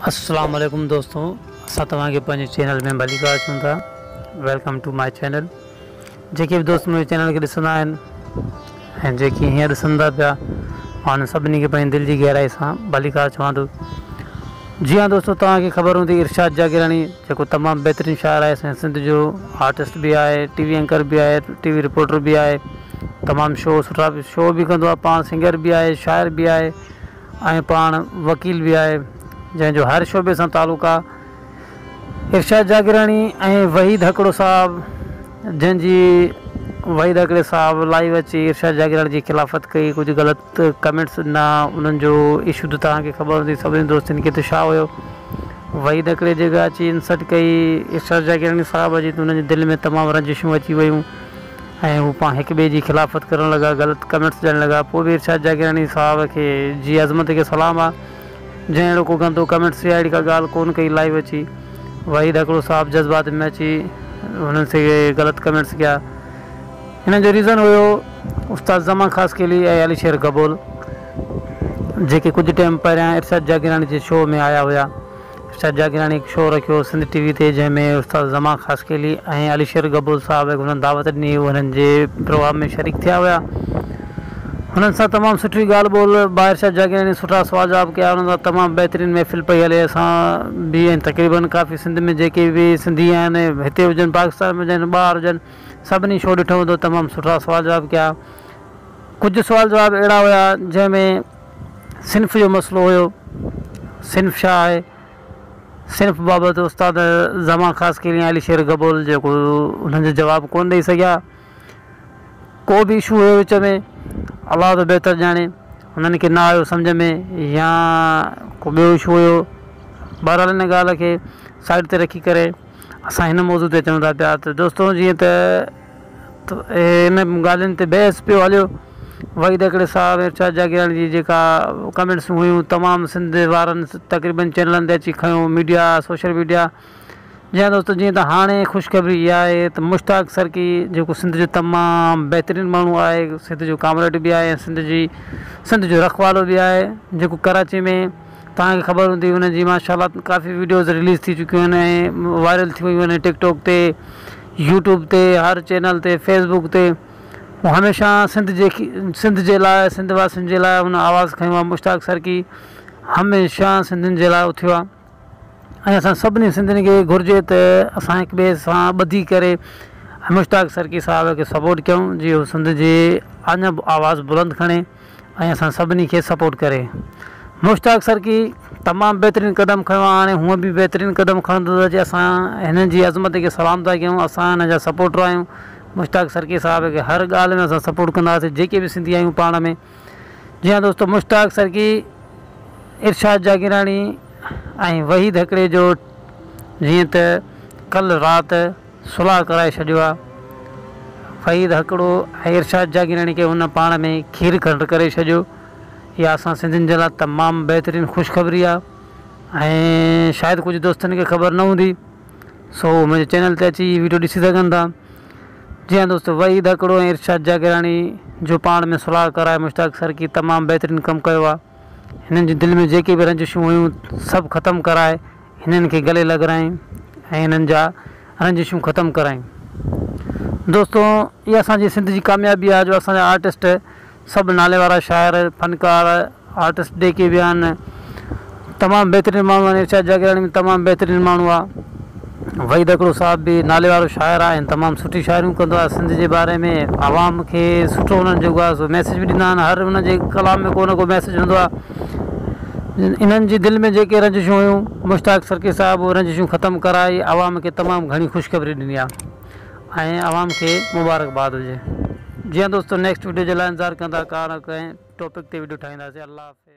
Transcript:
اسلام عليڪم دوستو اسان توهان کي پنهنجي چينل ۾ ڀليڪار اچون ٿا ويلڪم ٽو ماء چينل جيڪي به دوست منهنجي چينل کي ڏسندا آهن ۽ جيڪي هينئر ڏسن ٿا پيا مان انهن سڀني کي پنهنجي دل جي گهرائي سان ڀليڪار چوان ٿو جي ها دوستو توهان کي خبر هوندي ارشاد جاگيراڻي جيڪو تمام بهترين شاعر آهي اسان سنڌ جو آرٽسٽ به آهي ٽي وي اينڪر به آهي ٽي وي رپورٽر به آهي تمام شو سٺا شو به ڪندو آهي پاڻ سنگر به آهي شاعر به آهي ۽ پاڻ وڪيل به آهي جنهن جو هر شعبي سان تعلق آ. ارشاد جاگيراڻي ۽ وحيد هڪڙو صاحب جنهن جي وحيد هڪڙي صاحب لائيو اچي ارشاد جاگيراڻي جي خلافت ڪئي ڪجهه غلط ڪمينٽس ڏنا انهن جو اشو ته توهان کي خبر هوندي سڀني دوستن کي ته ڇا هيو وحيد هڪڙي جيڪا اچي انسلٽ ڪئي ارشاد جاگيراڻي صاحب جي ته انهن جي دل ۾ تمام رنجشون اچي ويون. ۽ هو پاڻ هڪ ٻئي جي خلافت ڪرڻ لڳا غلط ڪمينٽس ڏيڻ لڳا پوء به ارشاد جاگيراڻي صاحب کي جي عظمت کي سلام آ جنهن اهڙو ڪو گندو ڪمينٽس يا اهڙي ڪا ڳالهه ڪون ڪئي لائيو اچي وحيد هڪڙو صاحب جذبات ۾ اچي هنن سي غلط ڪمينٽس ڪيا انهن جو ريزن هيو استاد زمان خاصخيلي ۽ علي شير گبول جيڪي ڪجهه ٽيم پهريان ارشاد جاگيراڻي جي شو ۾ آيا هيا استاد جاگيراڻي هڪ شو رکيو سنڌ ٽي وي تي جنهن ۾ استاد زمان خاصخيلي ۽ علي شير گبو صاحب هڪ هنن دعوت ڏني هو هنن جي پروگرام ۾ شريڪ ٿيا هيا هنن سان تمام سٺي ڳالهه ٻولهه با ارشاد جاگيراڻي سٺا سوال جواب ڪيا هنن سان تمام بهترين محفل پئي هلي اسان به ۽ تقريبن ڪافي سنڌ ۾ جيڪي به سنڌي آهن هتي هجن پاڪستان ۾ هجن ٻاهر هجن سڀني شو ڏٺو هوندو تمام سٺا سوال جواب ڪيا ڪجهه سوال جواب اهڙا هيا جنهن ۾ صنف جو مسئلو هيو، صنف ڇا آهي؟ صنف بابت استاد زمان خاصخيلي ۽ عليشير گبول جيڪو انهن جو جواب ڪونه ڏئي سگهيا. ڪو به اشو هيو وچ ۾ الله ٿو بهتر ڄاڻي انهن کي نه آيو سمجهه ۾ يا ڪو ٻيو اشو هيو بهرحال ان ڳالهه کي سائيڊ تي رکي ڪري اسان هن موضوع تي اچون ٿا پيا ته دوستو جيئن ته ان ڳالهين تي بحث پيو هليو. وحيد هڪڙي ساهه ۾ ارشاد جاگيراڻي جي جيڪا ڪمينٽس هيون تمام سنڌ وارن تقريبن چينلن تي اچي کنيو ميڊيا سوشل ميڊيا جيان دوستو جيئن ته هاڻي خوشخبري اها آهي ته مشتاق سرڪي جيڪو سنڌ جو تمام بهترين ماڻهو آهي سنڌ جو ڪامريڊ به آهي ۽ سنڌ جي سنڌ جو رکوالو به آهي جيڪو ڪراچي ۾ توهان کي خبر هوندي هن جي ماشاء الله ڪافي ويڊيوز رليز ٿي چڪيون آهن ۽ وائرل ٿي ويون آهن ٽڪ ٽاڪ تي يوٽيوب تي هر چينل تي فيس بوڪ تي هو هميشه سنڌ جي سنڌ جي لاء سنڌ واسين جي لاء هن آواز کڻيو آهي مشتاق سرڪي هميشه سنڌين جي لاء اٿيو آهي ۽ اسان سڀني سنڌين کي گهرجي ته اسان هڪ ٻئي سان ٻڌي ڪري مشتاق سرڪي صاحب کي سپورٽ ڪيون جي هو سنڌ جي اڃا آواز بلند کڻي ۽ اسان سڀني کي سپورٽ ڪري. مشتاق سرڪي تمام بهترين قدم کنيو آ هاڻي هونء به بهترين قدم کڻندو ته اچي اسان هنن جي عظمت کي سلام ٿا ڪيون اسان هن جا سپورٽر آهيون مشتاق سرڪي صاحب کي هر ڳالهه ۾ اسان سپورٽ ڪنداسين جيڪي به سنڌي آهيون پاڻ ۾ جي ها دوستو مشتاق سرڪي ارشاد جاگيراڻي ۽ وحيد هڪڙي جو جيئن ته ڪل رات صلح ڪرائي ڇڏيو آ. فهيد هڪڙو ۽ ارشاد جاگيراڻي کي هن پاڻ ۾ کير کنڊ ڪري ڇڏيو. اها اسان سنڌين جي لاء تمام بهترين خوشخبري آ ۽ شايد ڪجهه دوستن کي خبر نه هوندي سو اهي منهنجي چينل تي اچي هي ويڊيو ڏسي سگهن ٿا. جي ها دوستو وحيد هڪڙو ۽ ارشاد جاگيراڻي جو پاڻ ۾ صلح ڪرائي مشتاق سرڪي تمام بهترين ڪم ڪيو آ. هنن جي دل ۾ جيڪي به رنجشون هيون سڀ ختم ڪرائي. هنن کي گلي لڳرائين ۽ هنن جا رنجشون ختم ڪرايون دوستو اها اسان جي سنڌ جي ڪاميابي آهي جو اسان جا آرٽسٽ سڀ نالي وارا شاعر فنڪار آرٽسٽ جيڪي به آهن تمام بهترين ماڻهو آهن ارشاد جاگيراڻي به تمام بهترين ماڻهو آهي وحيد اڪڙو صاحب به نالي وارو شاعر آهي ۽ تمام سٺي شاعريون ڪندو آهي سنڌ جي باري ۾ عوام کي سٺو انهن جيڪو آهي سو ميسج به ڏيندا آهن هر انهن جي ڪلام ۾ ڪو نه ڪو ميسج هوندو آهي انهن جي دل ۾ جيڪي رنجشون هيون، مشتاق سرڪي صاحب اهي رنجشون ختم ڪرائي عوام کي تمام گهڻي خوشخبري ڏني آ ۽ عوام کي مبارڪباد هجي. جي ها دوستو نيڪسٽ وڊيو جي لا انتظار ڪندا ڪا نه ڪنهن ٽاپڪ تي وڊيو ٺاهينداسين الله حافظ.